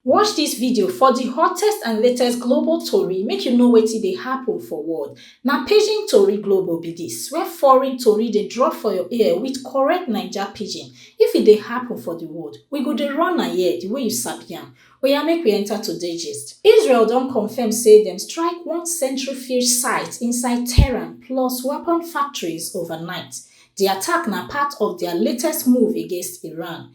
Watch dis video for di hottest and latest global tori make you know wetin dey happen for world. Na Pidgin Tori Global be dis, where foreign tori dey drop for your ear with correct Naija pidgin. If e dey happen for di world, we go dey run am here di way you sabi am. Oya make we enter today gist. Israel don confirm say dem strike one centrifuge site inside Tehran plus weapon factories overnight. Di attack na part of dia latest move against Iran.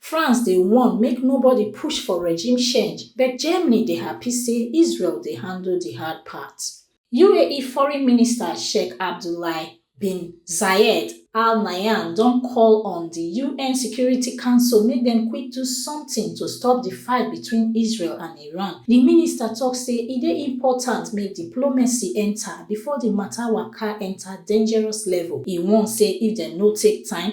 France dey warn make nobody push for regime change, but Germany dey happy say Israel dey handle di hard part. UAE Foreign Minister Sheikh Abdullahi bin Zayed Al Nahyan don call on di UN Security Council make dem quick do something to stop di fight between Israel and Iran. Di minister tok say e dey important make diplomacy enter before di matter waka enter dangerous level. E warn say if dem no take time,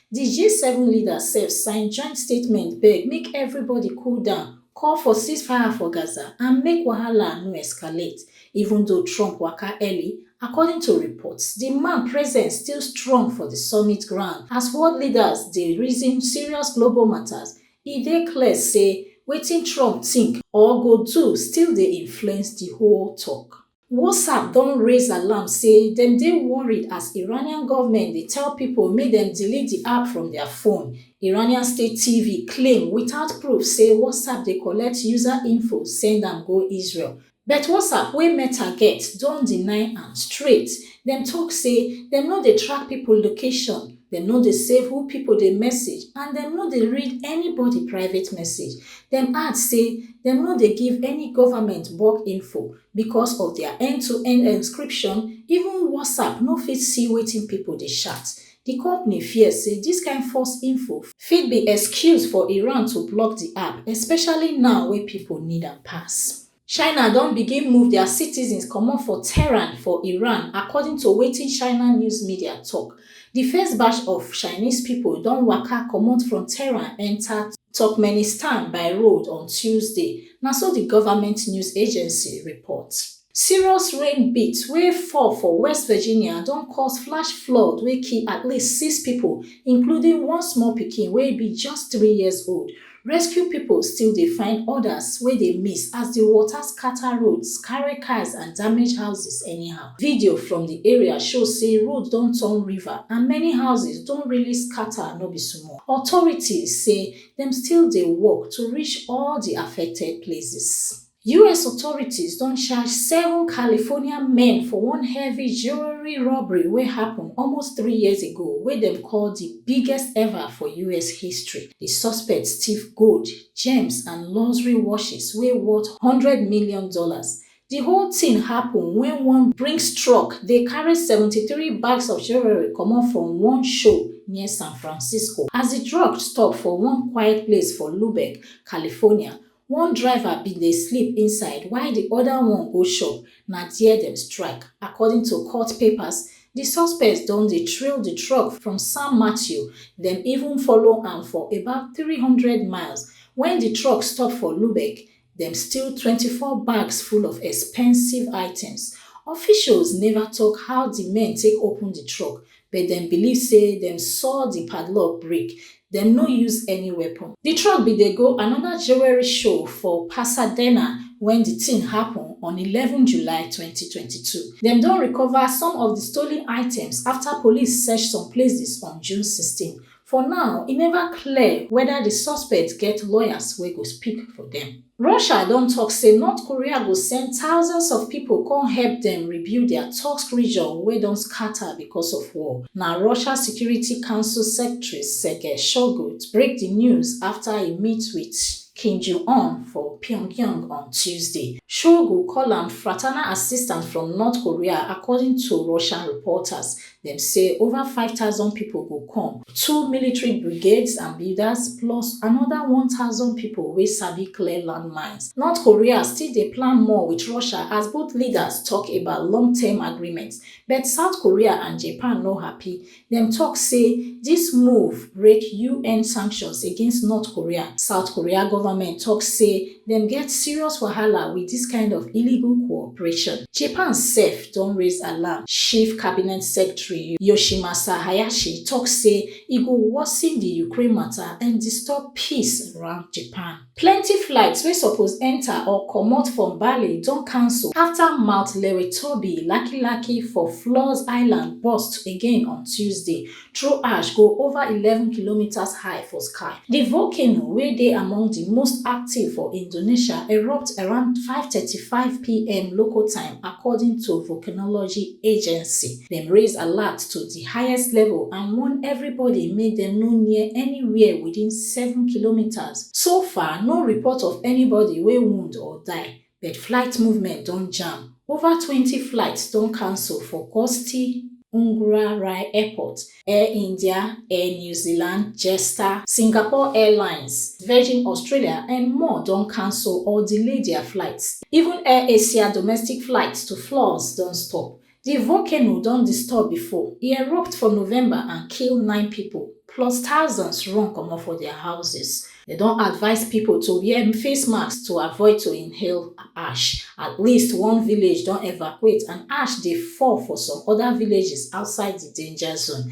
Di G-seven leaders sef sign joint statement beg make everybody cool down, call for ceasefire for Gaza and make wahala no escalate. Even though Trump waka early, according to reports, di man presence still strong for di summit ground as world leaders dey reason serious global matters. E dey clear say wetin Trump think or go do still dey influence di whole talk. WhatsApp don raise alarm say dem dey worried as Iranian government dey tell people make dem delete di app from their phone. Iranian state TV claim without proof say WhatsApp dey collect user info send am go Israel. But WhatsApp wey Meta get don deny am straight. Dem talk say dem no dey track people location, dem no dey save who people dey message and dem no dey read anybody private message. Dem add say dem no dey give any government bulk info. Because of their end-to-end encryption, even WhatsApp no fit see wetin people dey chat. Di company fear say dis kind false info fit be excuse for Iran to block di app, especially now wey people need am pass. China don begin move dia citizens comot for Tehran for Iran, according to wetin China news media tok. Di first batch of Chinese pipo don waka comot from Tehran enta Turkmenistan by road on Tuesday, na so di govment news agency report. Serious rain beat wey fall for West Virginia don cause flash flood wey kill at least six pipo, including one small pikin wey be just three years old, Rescue pipo still dey find odas wey dey miss as di water scata roads, carry cars and damage houses anyhow. Video from di area show say road don turn river and many houses don really scata no be small. Authorities say dem still dey work to reach all di affected places. Us authorities don charge seven California men for one heavy jewelry robbery wey happen almost three years ago wey dem call di biggest ever for us history. Di suspects thief gold, gems and luxury watches wey worth one hundred million dollars. Di whole thing happen wen one Brinks truck dey carry seventy three bags of jewelry comot from one show near San Francisco. As di truck stop for one quiet place for Lubeck, California, One driver bin dey sleep inside while di oda one go shop, na dia dem strike. According to court papers, di suspects don dey trail di truck from San Mateo, dem even follow am for about three hundred miles. Wen di truck stop for Lubek, dem steal twenty four bags full of expensive items. Officials neva tok how di men take open di truck, But dem believe say dem saw di padlock break, dem no use any weapon. Di truck bin dey go anoda jewelry show for Pasadena wen di tin happun on eleven July twenty twenty two. Dem don recover some of di stolen items afta police search some places on June sixteen For now, e neva clear weda di suspects get lawyers wey go speak for dem. Russia don tok say North Korea go send thousands of pipo come help dem rebuild dia Tursk region wey don scata becos of war. Na Russia Security Council Secretary Sergei Shoigu break di news afta e meet wit Kim Jong Un for Pyongyang on Tuesday. Shoigu call am fraternal assistance from North Korea, according to Russian reporters. Dem say over five thousand pipo go come, two military brigades and builders plus anoda one thousand pipo wey sabi clear landmines. North Korea still dey plan more wit Russia as both leaders tok about long-term agreement, but South Korea and Japan no happy. Dem tok say dis move break UN sanctions against North Korea. South Korea government tok say dem get serious wahala wit dis kind of illegal cooperation. Japan sef don raise alarm, Chief Cabinet Secretary Yoshimasa Hayashi tok say e go worsen di Ukraine mata and disturb peace around Japan. Plenty flights wey suppose enta or comot from Bali don cancel afta Mount Lewitobi lakilaki for Flores Island burst again on Tuesday, throw ash go over eleven kilometres high for sky. Di volcano, wey dey among di most active for Indonesia, erupt around five thirty five pm local time, according to volcanology agency. Dem raise alert to di highest level and warn everybody make dem no near anywhere within seven kilometres. So far, no report of anybody wey wound or die. but flight movement don jam ova twenty flights don cancel for gusti ungra rai airport air india air new zealand jetstar singapore airlines virgin australia and more don cancel or delay dia flights even air asia domestic flights to flores don stop Di volcano don disturb before, e erupt for November and kill nine pipo, plus thousands run comot for dia houses. Dem don advise pipo to wear face masks to avoid to inhale ash. At least one village don evacuate and ash dey fall for some oda villages outside di danger zone,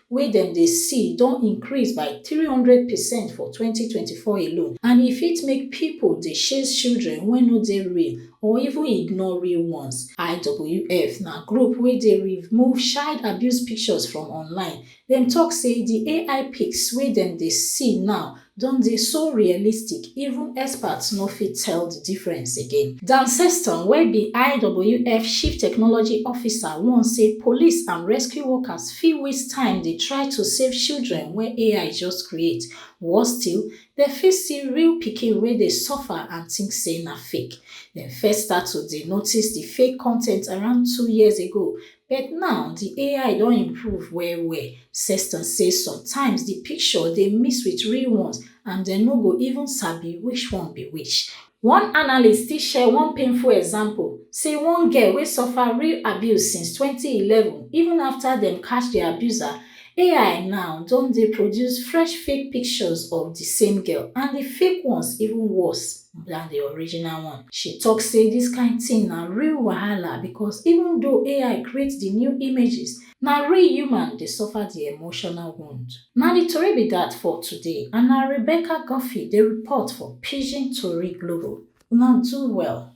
wey dem dey see don increase by three hundred percent for twenty twenty four alone and e fit make pipo dey chase children wey no dey real or even ignore real ones. IWF na group wey dey remove child abuse pictures from online, dem tok say di AI pics wey dem dey see now don dey so realistic even experts no fit tell di difference again. Dan Sexton wey be IWF Chief Technology Officer warn say police and rescue workers fit waste time dey try to save children wey AI just create, worse still, dem fit see real pikin wey dey suffer and think say na fake. Dem first start to dey notice di fake content around two years ago But now di ai don improve well well. Sexton say sometimes di picture dey mix wit real ones and dem no go even sabi which one be which. One analyst still share one painful example, say one girl wey suffer real abuse since twenty eleven, even afta dem catch di abuser, ai now don dey produce fresh fake pictures of di same girl and di fake ones even worse. na di original one. She tok say dis kain tin na real wahala because even though ai create di new images, na real human dey suffer di emotional wound. Na di tori be dat for today and na Rebecca Guffey dey report for Pidgin Tori Global. Una do well.